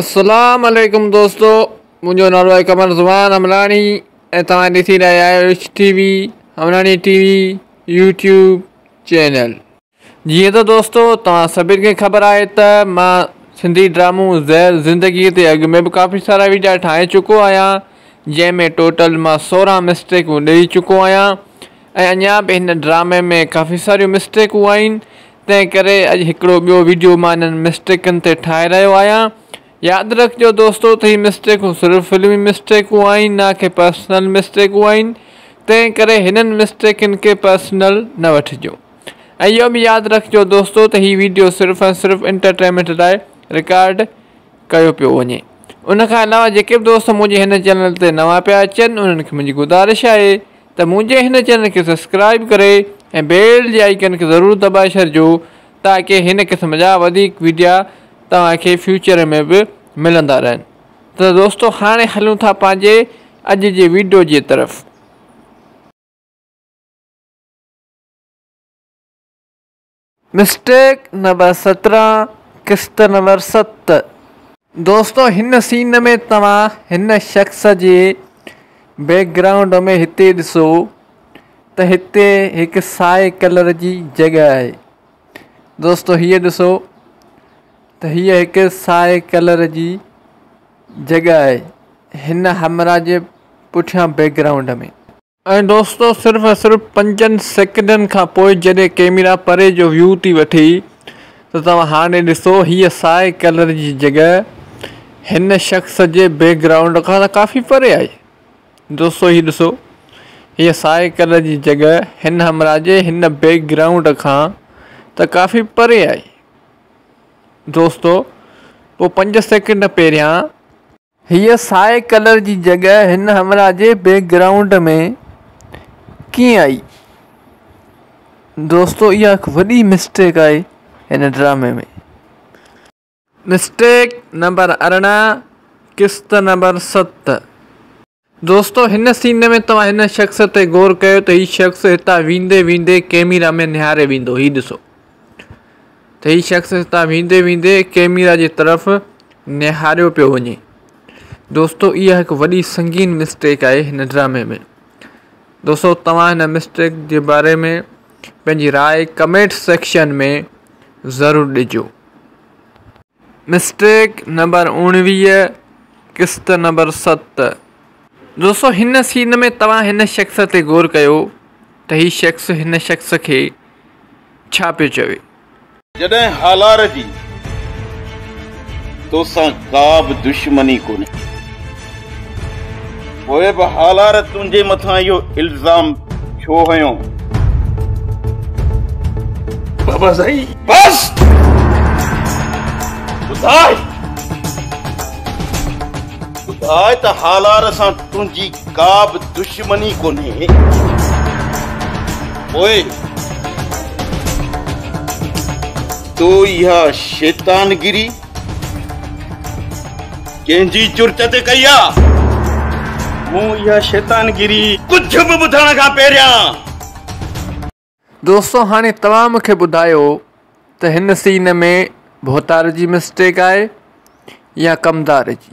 اسلام عليڪم دوستو منهنجو نالو آهي قمر زمان همراڻي ۽ توهان ڏسي رهيا آهيو rich T V Hamrani T V YouTube channel جيئن ته دوستو توهان سڀني کي خبر آهي ته مان سنڌي ڊرامو زهر زندگي تي اڳ ۾ به ڪافي سارا ويڊيا ٺاهي چڪو آهيان جنهن ۾ ٽوٽل مان سورهن مسٽيڪون ڏئي چڪو آهيان ۽ اڃا به هن ڊرامي ۾ ڪافي ساريون مسٽيڪون آهن تنهن ڪري اڄ هڪڙو ٻيو ويڊيو مان انهن مسٽيڪن تي ٺاهي رهيو آهيان. ياد رکجو دوستو ته هي مسٽيڪون صرف فلمي مسٽيڪون آهن نه ڪي پرسنل مسٽيڪون آهن تنهن ڪري هنن مسٽيڪن کي پرسنل نه وٺجو ۽ اهو به ياد رکجو دوستو ته هي ويڊيو صرف ۽ صرف انٽرٽينمينٽ لاء رڪارڊ ڪيو پيو وڃي ان کان علاوه جيڪي به دوست منهنجي هن چينل تي نوان پيا اچن انهن کي منهنجي گذارش آهي ته منهنجي هن چينل کي سبسڪرائيب ڪري ۽ بيل جي آئيڪن کي ضرور دٻائي ڇڏجو تاڪه هن قسم جا وڌيڪ ويڊيا توهان کي فيوچر ۾ به ملندا رهن ته دوستو هاڻي هلون ٿا پنهنجي اڄ جي ويڊيو جي طرف. مسٽيڪ نمبر سترهن قسط نمبر ست. دوستو هن سين ۾ توهان هن شخص جي بيڪ گرائونڊ ۾ هتي ڏسو ته هتي هڪ سائي ڪلر جي جڳهه آهي دوستو هيء ڏسو ته هيء هڪ سائي ڪلر جي جڳهه آهي هن همرا جي پٺيان بيڪ گرائونڊ ۾ ۽ دوستو صرف ۽ صرف پنجن سيڪنڊن کان پوء جڏهن ڪيميرا پري جو ويو ٿي وٺي ته توهان هاڻي ڏسو هيء سائي ڪلر جي جڳهه هن شخص جي بيڪ گرائونڊ کان ته ڪافي پري آهي دوستو هي ڏسو هيء سائي ڪلر جي جڳهه هن همراهه جي هن بيڪ گرائونڊ کان ته ڪافي پري آهي دوستو پوء پنج سيڪنڊ پهريان هيء سائي ڪلر جي جڳهه هن همراهه جي بيڪ گرائونڊ ۾ ڪيئن آئي؟ دوستو اها هڪ وڏي مسٽيڪ آهي هن ڊرامي ۾. مسٽيڪ نمبر ارڙهن قسط نمبر ست. دوستو هن سين ۾ توهان هن شخص تي غور ڪيو ته هي شخص هتان ويندي ويندي ڪيميرا ۾ نهاري ويندو هي ڏسو ته هي شخص هتان ويندي ويندي ڪيميرا جي طرف نهاريو پيو وڃي دوستو اها هڪ وڏي سنگين مسٽيڪ آهي هن ڊرامي ۾ دوستو توهان هن مسٽيڪ جي باري ۾ پنهنجي راء ڪمينٽ سيڪشن ۾ ضرور ڏجو مسٽيڪ نمبر اوڻويهه قسط نمبر ست دوستو هن سين ۾ توهان هن شخص تي غور ڪيو ته هي شخص هن شخص کي ڇا پيو چوي. جڏهن هالار جي توسان ڪا به دشمني ڪونهي. پوء به هالار تنهنجي مٿان اهو الزام ڇو هنيو؟ بابا سائين بس ٻڌاء ٻڌاء ته هالار سان تنهنجي ڪا به دشمني ڪونهي پوء تو اها شيطانگري ڪنهن جي جرت تي ڪئي آ مون اها شيطانگيري ڪجهه به ٻڌڻ کان پهريان. دوستو هاڻي توهان مونکي ٻڌايو ته هن سين ۾ ڀوتار جي مسٽيڪ آهي يا ڪمدار جي.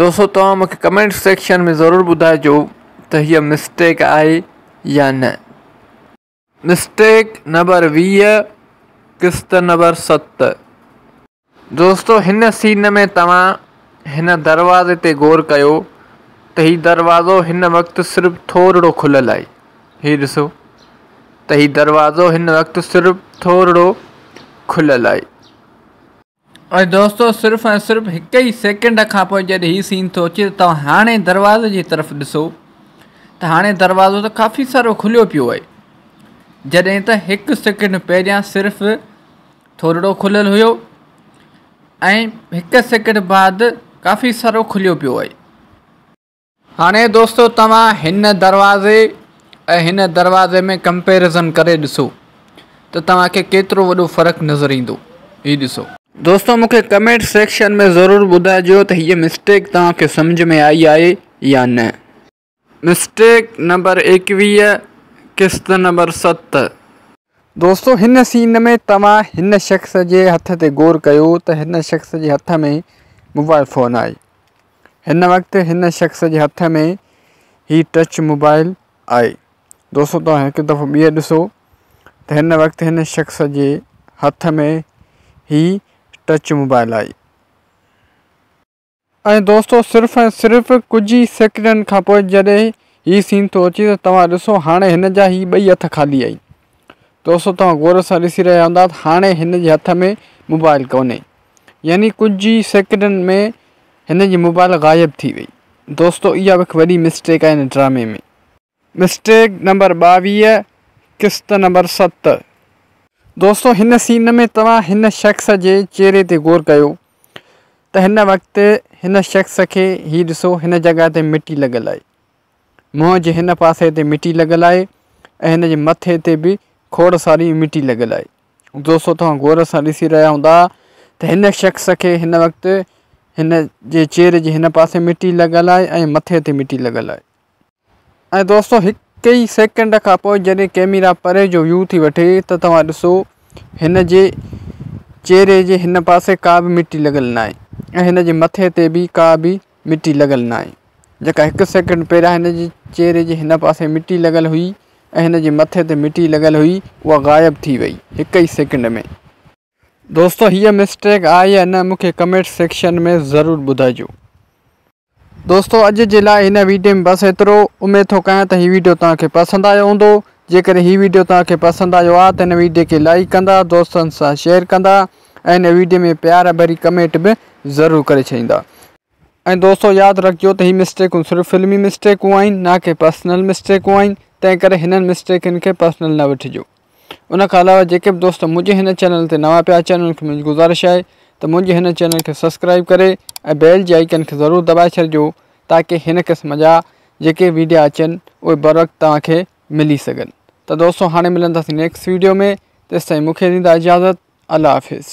دوستو توهان مون کي ڪمينٽ سيڪشن ۾ ضرور ٻڌائجو ته هيء مسٽيڪ آهي يا نه. مسٽيڪ نمبر ويهه قسط نمبر ست. دوستو هن سين ۾ توهان هن دروازي تي غور ڪيو ته هي دروازو هن وقت صرف ٿورڙو کليل آهي هي ڏسو ته هي دروازو هن وقت صرف ٿورڙو کليل آهي. اي دوستو صرف ۽ صرف هڪ ئي سيڪنڊ کان پوء جڏهن هي سين ٿو اچي ته توهان هاڻي دروازي جي طرف ڏسو ته هاڻي دروازو ته ڪافي سارو کليو پيو آهي جڏهن ته هڪ سيڪنڊ پهريان صرف ٿورڙو کليل هيو ۽ هڪ سيڪنڊ بعد ڪافي سارو کليو پيو آهي هاڻي دوستو توهان هن دروازي ۽ هن دروازي ۾ ڪمپيرزن ڪري ڏسو ته توهان کي ڪيترو وڏو فرق نظر ايندو هي ڏسو. دوستو مون کي ڪمينٽ سيڪشن ۾ ضرور ٻڌائجو ته هيء مسٽيڪ توهان کي سمجهه ۾ آئي آهي يا نه. مسٽيڪ نمبر ايڪويهه قسط نمبر ست. دوستو هن سين ۾ توهان هن شخص جي هٿ تي غور ڪيو ته هن شخص جي هٿ ۾ موبائل فون آهي هن وقت هن شخص جي هٿ ۾ هي ٽچ موبائل آهي دوستو توهان هڪ دفعو ٻيهر ڏسو ته هن وقت هن شخص جي هٿ ۾ هي ٽچ موبائل آهي ۽ دوستو صرف ۽ صرف ڪجهه ئي سيڪنڊن کان پوء جڏهن هي سين ٿو اچي ته توهان ڏسو هاڻي هن جا هي ٻئي هٿ خالي آهن دوستو توهان غور سان ڏسي رهيا هوندا ته هاڻي هن جي هٿ ۾ موبائل ڪونهي يعني ڪجهه ئي سيڪنڊن ۾ هن جي موبائل غائب ٿي وئي دوستو اها به هڪ وڏي مسٽيڪ آهي هن ڊرامي ۾. مسٽيڪ نمبر ٻاويهه قسط نمبر ست. دوستو هن سين ۾ توهان هن شخص جي چهري تي غور ڪيو ته هن وقت هن شخص کي هي ڏسو هن جڳهه تي مٽي لڳل آهي منهن جي هن پاسي تي مٽي لڳل آهي ۽ هن جي مٿي تي به کوڙ ساري مٽي لڳل آهي دوستو توهان غور سان ڏسي رهيا هوندا ته هن شخص کي هن وقت هن جي چهري جي هن پاسي مٽي لڳل آهي ۽ مٿي تي مٽي لڳل آهي ۽ دوستو هڪ ئي سيڪنڊ کان پوء جڏهن ڪيميرا پري جو ويو ٿي وٺي ته توهان ڏسو هن جي چهري جي هن پاسي ڪا به مٽي لڳل ناهي ۽ هن جي مٿي تي به ڪا به مٽي لڳل ناهي جيڪا هڪ سيڪنڊ پهريان هن جي چهري جي هن پاسي مٽي لڳل هئي ۽ هن جي مٿي تي مٽي لڳل هئي اها غائب ٿي وئي هڪ ئي سيڪنڊ ۾ دوستو هيء مسٽيڪ آهي يا نه مون کي ڪمينٽ سيڪشن ۾ ضرور ٻڌائجو. دوستو اڄ جي لاء هن ويڊيو ۾ بس ايترو. اميد ٿو ڪيان ته هي ويڊيو توهان کي پسند آيو هوندو. جيڪڏهن هي ويڊيو توهان کي پسند آيو آهي ته هن ويڊيو کي لائيڪ ڪندا، دوستن سان شيئر ڪندا ۽ هن ويڊيو ۾ پيار ڀري ڪمينٽ به ضرور ڪري ڇڏيندا. ۽ دوستو ياد رکجو ته هي مسٽيڪون صرف فلمي مسٽيڪون آهن نه ڪي پرسنل مسٽيڪون آهن تنهن ڪري هنن مسٽيڪن کي پرسنل نه وٺجو ان کان علاوه جيڪي به دوست منهنجي هن چينل تي نوان پيا اچن انهن کي منهنجي گذارش آهي ته منهنجي هن چينل کي سبسڪرائب ڪري ۽ بيل جي آئيڪن کي ضرور دٻائي ڇڏجو تاڪي هن قسم جا جيڪي ويڊيا اچن اهي بروقت توهان کي ملي سگهن ته دوستو هاڻي ملنداسين نيڪسٽ ويڊيو ۾ تيستائين مونکي ڏيندا اجازت الله حافظ